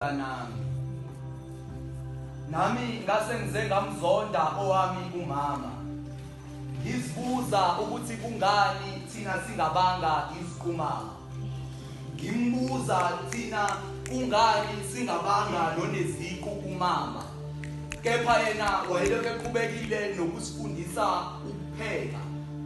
nami nami ngase ngize ngamzonda owami umama ngizibuza ukuthi kungani thina singabanga iziqumama ngimbuza thina kungani singabanga noneziqu kumama kepha yena wayelokhu eqhubekile nokusifundisa ukupheka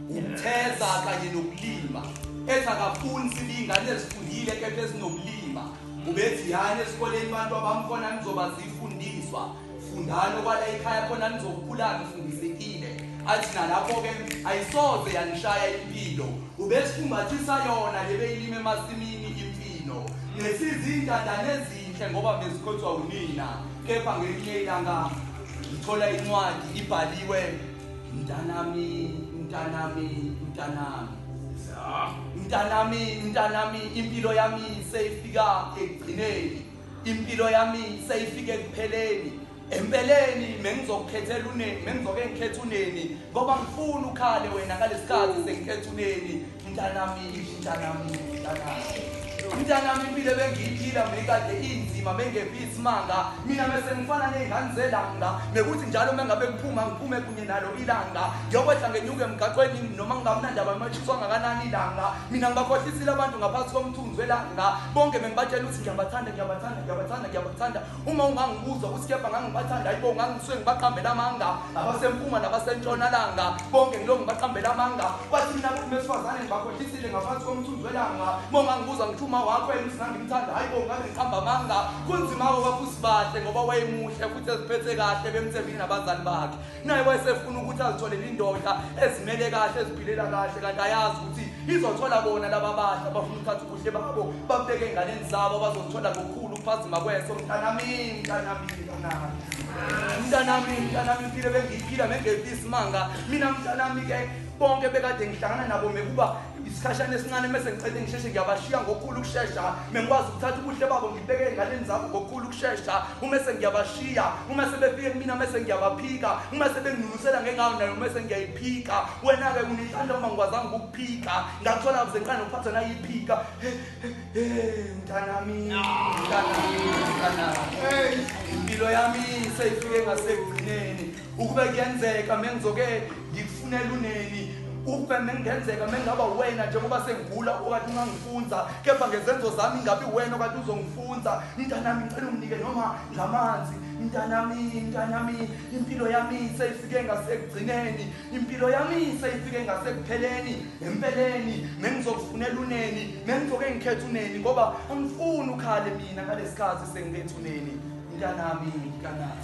ukutheza kanye nokulima ethi akafuni sibiyingane ezifundile kepha ezinobulima Ubeziyani esikoleni abantu abamkhona nizoba zifundiswa fundani okwala ekhaya khona nizokhula nifundisekile athi nalapho-ke ayisoze yanishaya impilo ubesifumbathisa yona lebeyilima emasimini imfino nesizintandane ezinhle ngoba bezikhothwa unina kepha ngelinye ilanga ngithola incwadi ibhaliwe mntanami mntanami mntanami mntanami mntanami impilo yami seyifika ekugcineni impilo yami seyifika ekupheleni empeleni mengizokukhethela uneni mengizoke ngikhethe uneni ngoba ngifuna ukhale wena ngalesikhathi sengikhetha uneni mntanami mntanami mntanami mntanami impilo ebengiyiphila mekade inzima mengephi isimanga mina mese ngifana ney'ngane zelanga mekuthi njalo uma ngabe ngiphuma ngiphume kunye nalo ilanga ngiyokwehla ngenyuke emgaqweni noma ngingamnandaba imatshiswa ngakanani ilanga mina ngibakhohlisile abantu ngaphansi komthunzi welanga bonke bengibatshela ukuthi ngiyabathanda ngiyabathanda ngiyabathanda ngiyabathanda uma ungangibuza ukuthi kepha ngangibathanda ayibo ngangisuke ngibaqambela amanga abasempunga nabasentshonalanga bonke ngilo ngibaqambela amanga kwathi mina kuthi besifazane ngibakhohlisile ngaphansi komthunzi welanga uma ungangibuza ngithi uma wakho yena ukuthi ngangimthanda ayibo ngabe ngiqamba amanga kunzima-ke kwafusibahle ngoba wayemuhle futhi eziphethe kahle bemthembile nabazali bakhe naye wayesefuna ukuthi azitholele indoda ezimele kahle eziphilela kahle kanti ayazi ukuthi izothola bona laba bahle abafuna ukuthatha ubuhle babo babeke enganeni zabo bazozithola ngokukhulu ukuphazima kweso mntanami mntanami mntanami mntanami mntanami impilo bengiyiphila mengephi isimanga mina mntanami-ke bonke bekade ngihlangana nabo mekuba isikhashana esincane mese ngicela ngisheshe ngiyabashiya ngokukhulu ukushesha mengikwazi ukuthatha ubuhle babo ngibeke ey'nganeni zabo ngokukhulu ukushesha uma sengiyabashiya uma sebefike kumina mese ngiyabaphika uma sebenginunusela ngengawo nayo mese ngiyayiphika wena-ke unithanda uma ngikwazanga ukukuphika ngakuthola kuze ngiqale nokuphatha nayiphika mntanami mntanami mntanami impilo yami seyifike ngasekugcineni ukube kuyenzeka mengizoke ngikufunela uneni ukube mengenzeka mengaba wena njengoba sengigula okade ungangifunza kepha ngezenzo zami ingabi wena okade uzongifunza mntanami ngicela unginike noma ngamanzi mntanami mntanami impilo yami seyifike ngasekugcineni impilo yami seyifike ngasekupheleni empeleni mengizokufunela uneni mengizoke ngikhethe uneni ngoba angifuni ukhale Nina ngalesikhathi sengibethuleni mntanami mntanami.